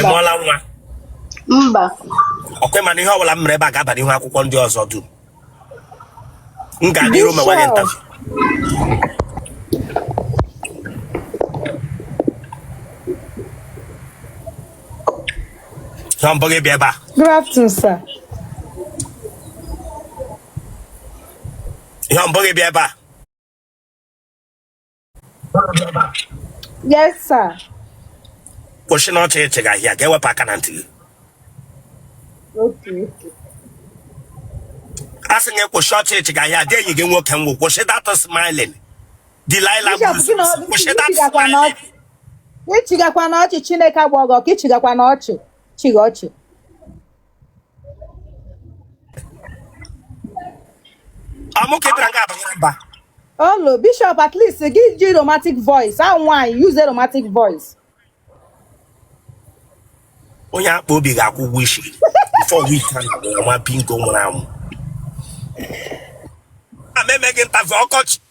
ị mụọla nwa mba ọkwa ị ma na ihe ọbụla m mere ebe a ga-aba n'ihu akwụkwọ ndị ọzọ dum m gaa n'iru mewa gị interview ihe mbụ gị bịa ebe a Good afternoon, sir. ihe mbụ gị bịa ebe a Yes, sir. kwụsị na ọchị ị chịga ahịa ka e wepụ aka na ntị gị Okay. a sị gị kwụsị ọchị ị chịga ahịa dị enyi gị nwoke ngwụ kwụsị that smiling Delilah Bishop, Bruce, gị na ọ- kwụsị gị that chigakwa na smiling ọchị. Gị chigakwa na ọchị Chineke agba gị ọkụ, ị chigakwa na ọchị. Chigha ọchị. olo bishop at least gị ji romantic voice a nwaanyị use romantic voice onye akpa obi ga-akwụ ụgwọ isi before week a na-agwụ nwa pinko nwụrụ anwụ a meme gị interview ọkọchị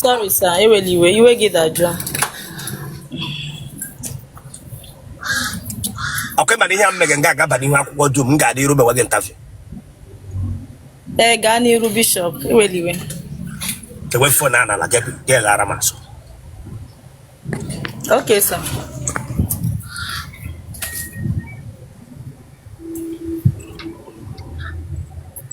Sorry sir, ewela iwe, iwe gị dajụọ. ọkwa ị ma na ihe a m mege nga a ga-aba n'ihu akwụkwọ dum m gaa n'iru mewe gị interview Ee, gaa n'iru bishop, ewela iwe. ewe phone a n'ala gị gị ghara m asụ Okay sir.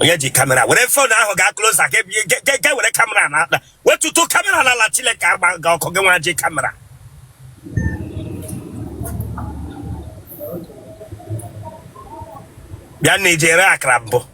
onye ji kamera were phone ahụ gaa closer ga were kamera na akpa wetutu kamera n'ala Chineke agba gị ọkụ gị nwa ji kamera bịa na ijere akara mbụ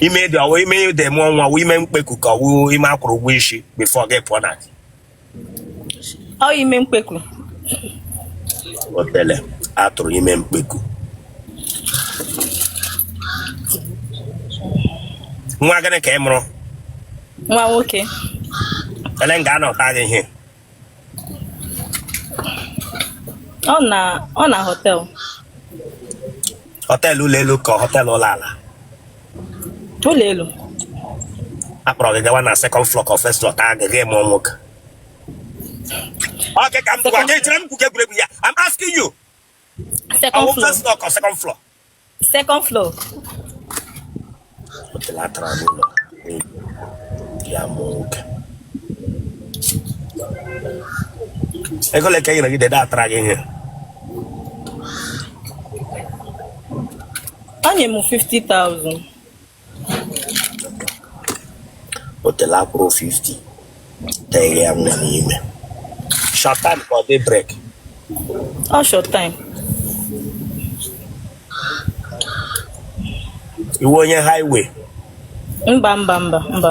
ime dị ọ wụ ime ị dị mụọ nwa wụ ime mkpeku ka ọ wụ ime a kwụrụ ụgwọ isi before gị pụọ na di ọ ime mkpeku otele atụrụ ime mkpeku nwa gịnị ka ị mụrụ nwa nwoke ele nga a nọ taa gị ihe ọ na ọ na hotel hotel ụlọ elu ka hotel ụlọ ala ụlọ elu a kpọrọ gị gawa na second floor ka first floor taa gị gị mụọ nwoke Okay, come to one. I'm asking you. Second floor. First floor or second floor? second floor otele atara n'ụlọ n'ego di ya mụọ nwoke ego ole ka e nyere gị the day atara gị ihe ọ nye m 50,000 otele a kwụrụ 50 tee ya nwa n'ime short time ka ọ daybreak Ọ short time. ị wụ onye highway Mba mba mba mba.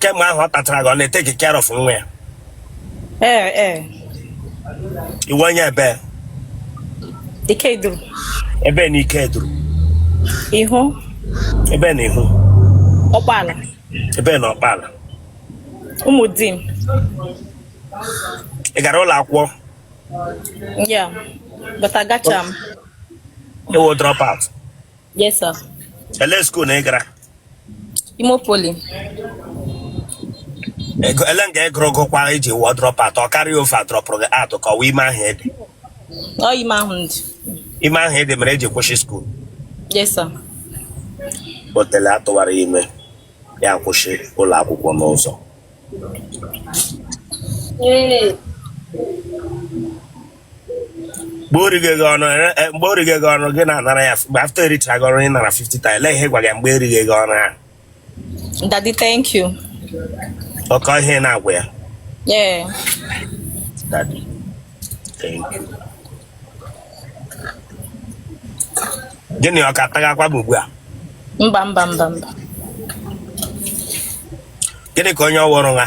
kemgbe ahụ ọ tatara gị ọ na-eteki care of nwa ya ee ee ị wụ onye ebee Ikeduru ebee na Ikeduru Iho ebee na Iho Ọkpala ebee na Ọkpala Ụmụdim ị gara ụlọ akwụkwọ yeah but agacha m Ị wụ drop out. Yes, sir. Ele school na ị gara? Imo Poly. Ị gụ- ele nga ị gụrụ gụkwa iji wụọ drop out ọ carry over dropụrụ gị out ka ọ wụ ime ahụ ị dị. Ọ ime ahụ m dị. Ime ahụ ị dị mere i ji kwụsị school. Yes, sir. Otele atụwara ime ya kwụsị ụlọ akwụkwọ n'ụzọ. Ee. mgbe o righe gị ọnụ ere- eh, mgbe o righe gị ọnụ gị na-anara ya mgbe after erichara gị ọnụ ị nara 50,000 ele ihe ị gwara ya mgbe erighe gị ọnụ ahụ Daddy, thank you. ọ kwa ihe ị na-agwa ya Yeah. Daddy, thank you. gịnị ọ ka tagakwa m ugbu a Mba, mba, mba, mba. gịnị ka onye ọwụrụ ha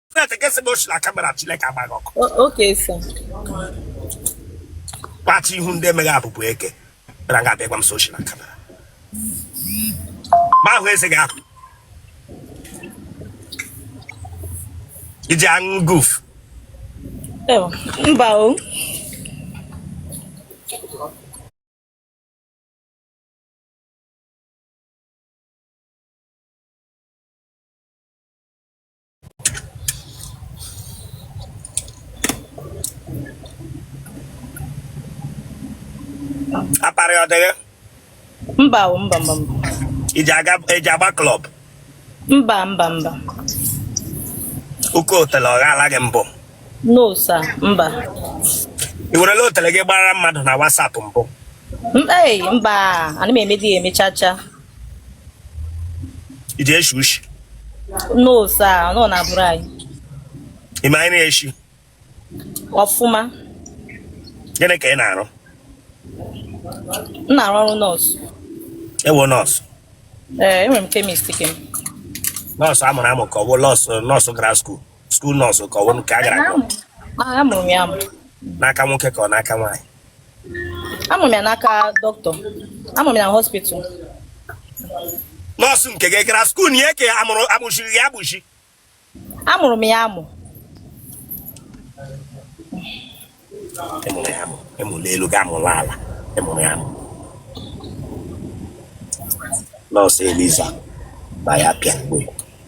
straight gị sị na oshi na kamera Chineke agba gị ọkụ O- Okay, sir. kpachi ihu ndị emeghị abụbụ eke bịara nga a bịa gwa m sị oshi na kamera ma ahụ eze gị ahụ i ji aṅụ guf Oh, mba o. akparị ọ dịghị mba o mba mba mba i ji aga i ji agba klọb mba mba mba oke otele ọ ghala gị mbụ no sir mba ị werela otele gị gbaara mmadụ na WhatsApp mbụ M- ei mba ana m emedi ya emechacha ị ji eshi ushi no sir no na bụrụ anyị ị ma anyị na-eshi ọfụma gịnị ka ị na-arụ m na-arụ ọrụ nọọsụ ewo nọọsụ ee enwere m kemist ke m nọọsụ a mụrụ amụ ka ọ bụ nọọsụ nọọsụ gara skuul skuul nọọsụ ka ọ bụ nke a gara agụ amụrụ m ya amụ n'aka nwoke ka ọ n'aka nwaanyị amụrụ m ya n'aka dọkịta amụrụ m ya na hospital nọọsụ nke gị gara skuul ya ka amụrụ agbụchiri ya agbụchi amụrụ m ya amụ ị mụrụ ya amụ ị mụrụ elu gị amụrụ ala ị mụrụ ya amụ nọọsụ eliza ma ya pịa mgbe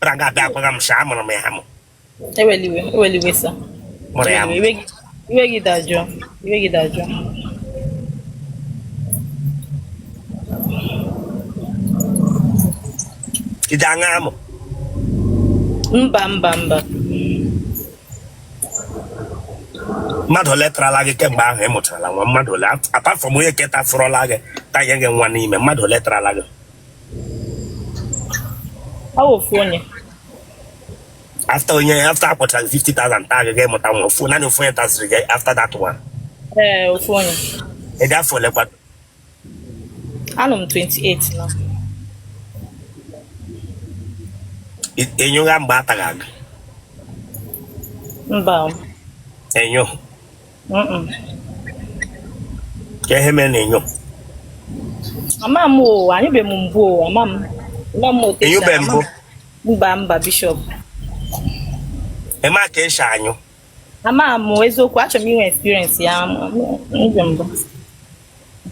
Bịa nga abịa agwaga m sị amụrụ m ya amụ. Ewele iwe, ewele iwe sir. Mụrụ ya amụ. Iwe gị dajụọ, iwe gị dajụọ. Ị ji aṅụ amụ. Mba mba mba. mmadụ ole tarala gị kemgbe ahụ ị mụtarala nwa mmadụ ole apart from onye ke tafụrụla gị tanye gị nwa n'ime mmadụ ole tarala gị ofu onye after onye after a kwụchara 50,000 taa gị ị mụta nwa ofu naanị ofu onye tasịrị gị after that one ee ofu onye ị dị afọ olekwa anọ m 28 na-anyụga mgbe a taga gị mba enyo kee ihe mere ị na-anyụ ama m o anyụbe m mbụ o ama m ama m o ị nyụbe mbụ mba mba bishop ị ma ka e si anyụ ama m eziokwu achọrọ m inwe experience ya mbụ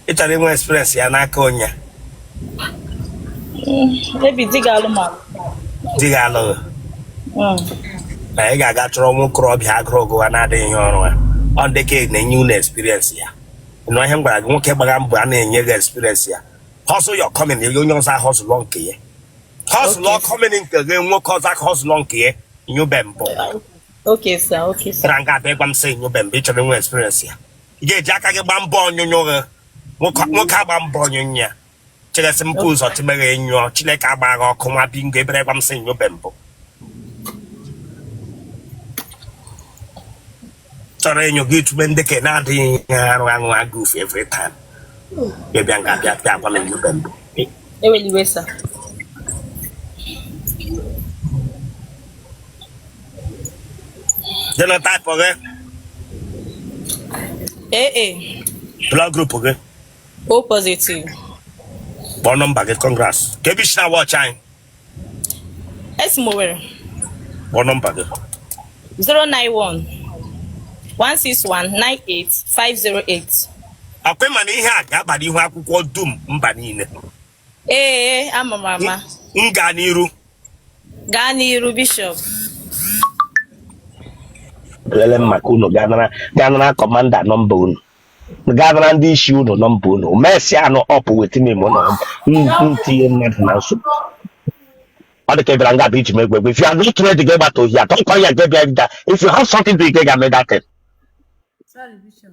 ị chọrọ inwe experience ya n'aka onye maybe di ga-alụ m a di ga-alụ gị na ị ga-aga chọrọ nwa okorobịa agụrụ gụwa na-adịghị ihe ọrụ ya ọ ndị ka na-enye unu experience ya nụ ihe m gwara gị nwoke gbara mbọ a na-enye gị experience ya hustle your coming ya onye ọzọ ahọsụlọ nke ya hustle your coming nke gị nwoke ọzọ aka hustle nke ya nyụbe mbụ Okay, sir. Okay, sir. Bịa nga bịa gwa m sị nyụbe mbụ chọrọ inwe experience ya. ị ga-eji aka gị gbaa mbọ ọnyụnyụ gị nwoke nwoke agba mbọ ọnyụnyụ ya chilesi mpụ ụzọ timeghe enyụọ chineke agba gị ọkụ nwa bingo bịara gwa m sị nyụbe mbụ chọrọ enyo gị tube ndị ke na-adịghị ihe arụ aṅụ agụf every time bịa nga bịa bịa gwa m nyụbe mbụ Ewele iwe sir. Genotype gị? AA. Blood group gị. O positive. Phone number gị, congrats. Kebe i shi na-watch anyị. Esi m Owerri. Phone number gị. 091 161 98 508. Akwa ịma na ihe a ga-aba n'ihu akwụkwọ dum mba niile. Ee, ama m ama. M gaa n'iru. Gaa n'iru bishọp. Lele m maka unu gaa nara kọmanda nọmba unu. Gaa nara ndị isi unu nọmba unu. Mesị anụ ọpụ weta m ime ụlọ m. M tinye mmadụ na nsogbu. Ọ dị ka ị bịara nga bụ iji m egwu egwu. If you are not ready, gị gbata ohi atọ. Ọkwa ya ga-ebịa bịa. If you have something to ike ga-eme that thing. Sorry, Bishop.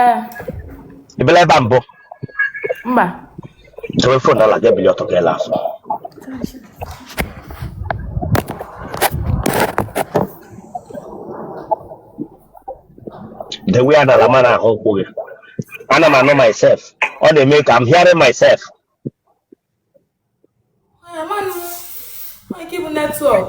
ee ị bịala ebe a mbụ mba dowe fon ala gị ebili ọtọ ka ị la azụ dewe ya n'ala m ana-ahụ ụkwụ gị ana m anụ myself ọ na-eme ka m hearing myself Ay, aman. Ay, ki bu network.